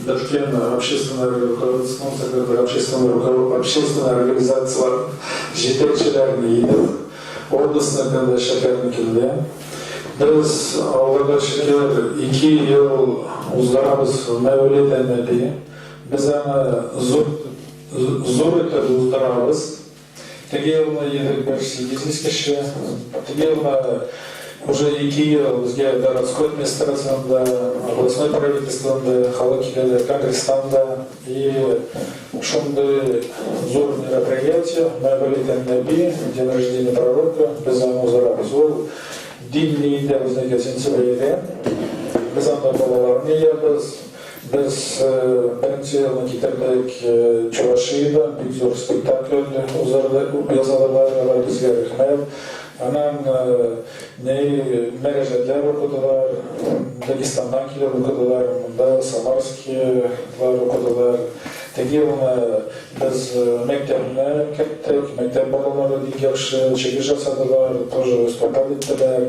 Беркем, общественный рекордсның секретарь, общественный рекорд, общественный организацияләр җитәкчеләрен идел, областьныкын да шәһәрнекене дә. Без, Аллага шөкер, ике ел уздырабыз Мәүлид әнәби. Без аны зур, зур итеп уздырабыз. Теге елны егет берсе бизнес кеше, теге елны уже ике ел безгә городской администрациядән дә, областной правительстводан да халык киләләр, конгресстан да. И шундый зур мероприятие, мәгъбәл итәм Нәби, день рождения пророка, без аны уздырабыз. Ул дин ниендә безнеке сентябрьдә. Без анда балаларны җыябыз. Без беренче елны китердек, Чувашиядән бик зур спектакль уздырды, күп язылырлар алар безгә рәхмәт. Аннан ни мөрәҗәтләр укыдылар, Дагестаннан килеп укыдылар, монда Самарскийлар укыдылар. Теге елны без мәктәпне керттек, мәктәп балалары бик яхшы чыгыш ясадылар, тоже выступать иттеләр.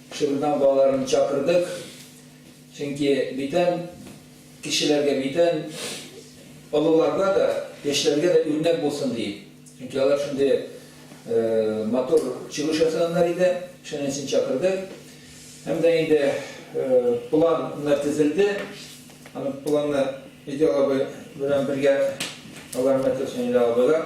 Шыгырдан балаларны чакырдык, чөнки бүтән кешеләргә, бүтән олыларга да, яшьләргә дә үрнәк булсын диеп. Чөнки алар шундый матур чыгыш ясаганнар иде, шуның өчен чакырдык. Һәм дә инде план менә төзелде. Аны планны Идел абый белән бергә алар менә төзсен, Идел абыйлар.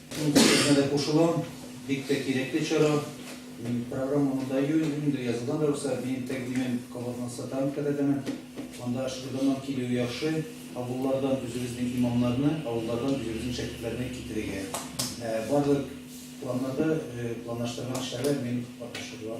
Мин бу сүзгә дә кушылам. Бик тә кирәкле чара. Мин программаны да юнде язылган рәвештә мин тәкъдимен кабатына сатам кадәдәмен. Анда Шырданнан килүе яхшы. Авыллардан үзебезнең имамнарны, авыллардан үзебезнең шәкертләрне китерергә. Барлык планнарда планлаштырган эшләрдә мин катнашырга.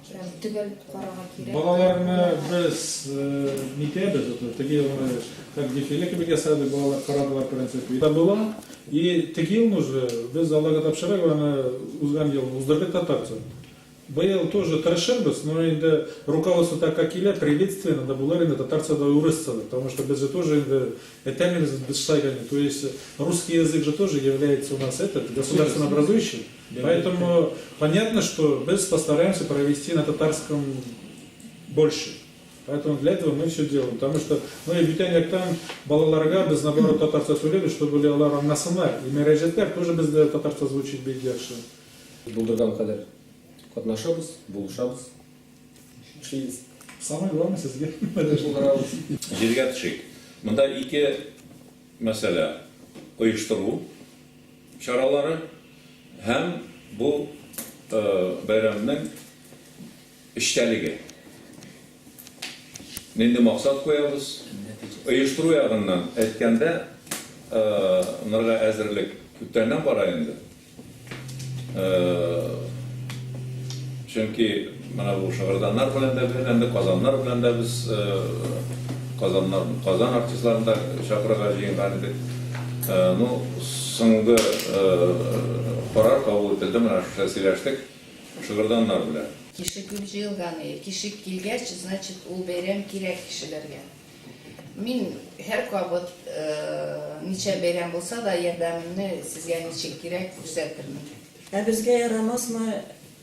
Төгәл карарга кирәк. Балаларны без нитәбез, вот теге елны как дефиле кебек ясады, балалар карадылар принципе. Да было. И теге елны уже без Аллага тапшырып, аны узган ел уздырдык татарча. Быел тоже тырышырбыз, но инде руководство так как килә, приветственно да булыр инде татарча да урысча да, потому что без же тоже инде этәмибез без шайканы, то есть русский язык же тоже является у нас этот государственно образующий. Поэтому понятно, что без постараемся провести на татарском больше. Поэтому для этого мы все делаем. Потому что, ну и бүтән яктан балаларга без наоборот татарча сөйләбез, чтобы были алар аңласыннар. И мәрәҗәтләр тоже бездә татарча звучит бик яхшы. Булдырган кадәр катнашабыз, булышабыз. Эшлибез. Самое главное сезгә. Җиргә төшик. Монда ике мәсьәлә оештыру чаралары һәм бу бәйрәмнең эчтәлеге. Нинди максат куябыз? Оештыру ягыннан әйткәндә, нырга әзерлек күптәннән бара инде. Чөнки. Менә бу Шыгырданнар белән дә бирләндек, Казаннар белән дә без Казаннар, Казан артистларын да чакырырга җыенган идек. Ну, соңгы карар кабул ителде, менә шушы сөйләштек Шыгырданнар белән. Тишегү җыелганы, тишек килгәч, значит, ул бәйрәм кирәк кешеләргә. Мин һәркабат, ничә бәйрәм булса да, ярдәмемне сезгә ничек кирәк, күрсәтермен. Ә безгә ярамасмы,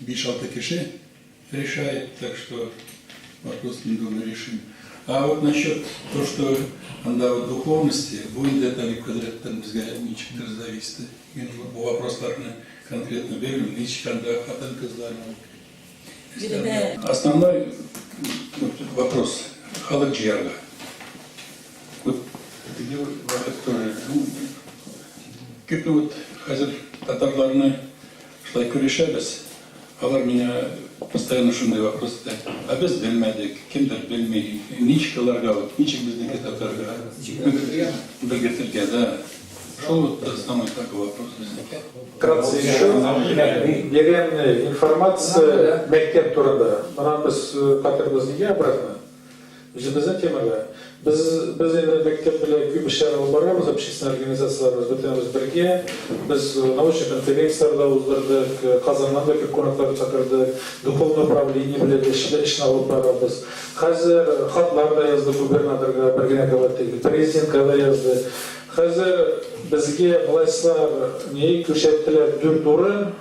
Биш-алты кеше решает, так что вопрос не думаю решим. А вот насчет то, что анда вот духовности, бу инде Талип хәзрәттән безгә ничектер зависит. Мин бу вопросларны конкретно белмим, ничек анда хатын-кызлар. Основной вопрос халык җыярга. Вот теге вакыт тоже. Кирпе вот хәзер татарларны Шулай көлешәбез. Алар миңа постоянно шундый вопрос итә, Ә без белмәдек, кемдер белми, ничек аларга вот, ничек безнеке татарга белгертергә, да? Шул вот самый такой вопрос безнеке. Вкратце еще берем информация мәктәп турында. Моннан без кайтырбыз нигә обратно? Үзебезнең темага. Без, без инде мәктәп белән күп эшләр алып барабыз, общественный организацияләрбез, бөтенебез бергә. Без научный конференцияләр дә уздырдык, Казаннан да күп кунаклар чакырдык, духовный управление белән дә эшләр, эшне алып барабыз. Хәзер хатлар да яздык губернаторга, бер генә кабат түгел, президентка да яздык. Хәзер безгә властьлар ни күрсәттеләр, дүрт урын.